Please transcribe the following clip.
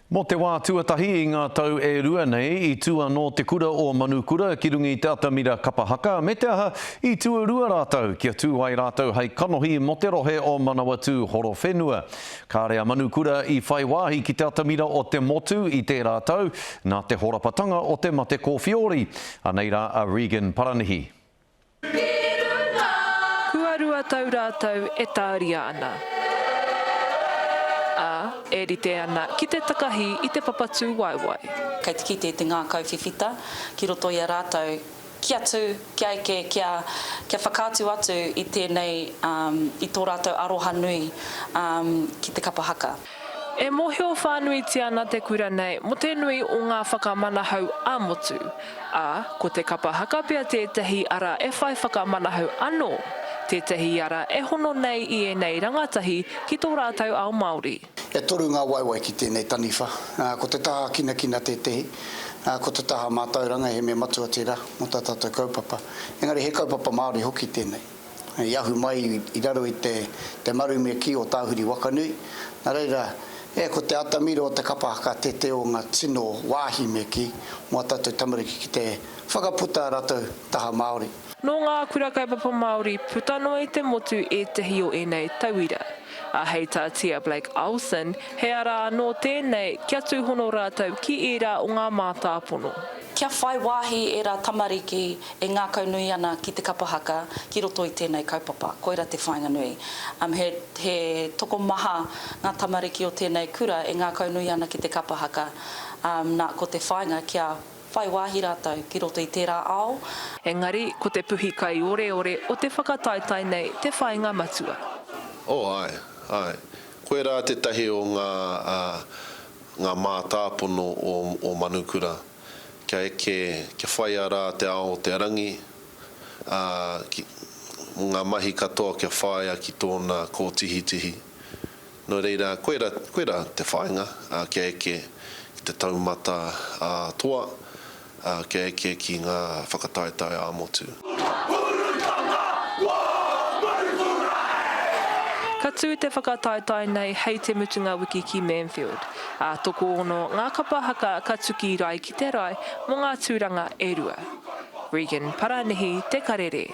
Mō te wā tuatahi i ngā tau e rua nei, i tū anō te kura o Manukura ki runga i te atamira kapa haka, me te aha, i tuarua rātou kia tū ai rātou hei kanohi mō te rohe o Manawatū Horowhenua. Kāre a Manukura i whai wāhi ki te atamira o te motu i tērā tau, nā te horapatanga o te mate kōwhiori. Anei rā a Regan Paranihi. Kua rua tau rātou e tāria ana, ā, e rite ana ki te takahi i te papatūwaewae. Kei te kite i te ngākau whiwhita ki roto i a rātou kia tū, kia eke, kia, kia whakaatu atu i tēnei, i tō rātou aroha nui ki te kapa haka. E mōhio whānuitia ana te kura nei mō te nui o ngā whakamanahau ā-motu, ā, ko te kapa haka pea tētahi ara e whai whakamanahau anō, tētahi ara e hono nei i ēnei rangatahi ki tō rātou ao Māori. E toru ngā waewae ki tēnei taniwha, ā, ko te taha kinakina tētahi, ā, ko te taha mātauranga he mea matua tērā mō tā tātou kaupapa, engari he kaupapa Māori hoki tēnei. i ahu mai i raro i te marume kī o Tāhuri Wakanui. Nā reira, e, ko te atamira o te kapa haka tētē o ngā tino wāhi me kī mō ā tātou tamariki ki te whakaputa ā rātou taha Māori. Nō ngā kura kaupapa Māori puta noa i te motu ētahi o ēnei tauira, ā, hei tā Tia Blake-Olsen, he ara anō tēnei kia tūhono rātou ki ērā o ngā mātāpono. Kia whai wāhi ērā tamariki E ngākaunui ana ki te kapa haka ki roto i tēnei kaupapa, koira te whāinga nui. He tokomaha ngā tamariki o tēnei kura e ngākaunui ana ki te kapa haka, nā, ko te whāinga kia whai wāhi rātou ki roto i tērā ao, Engari, ko te puhi kaioreore o te whakataetae nei te whāinga matua. Oh, āe, āe. Koirā tētahi o ngā, ngā mātāpono o Manukura. kia eke, kia whaia rā te ao o te rangi, ā, ki, mō ngā mahi katoa kia whāia ki tōna kōtihitihi. Nō reira, koira, koira te whāinga, ā, kia eke ki te taumata ā-toa, ā, kia eke ki ngā whakataetae ā-motu. Ka tū te whakataetae nei hei te mutunga wiki ki Manfield, ā, tokoono ngā kapa haka ka tuki rae ki te rae mō ngā tūranga e rua. Regan Paranihi, Te Karere.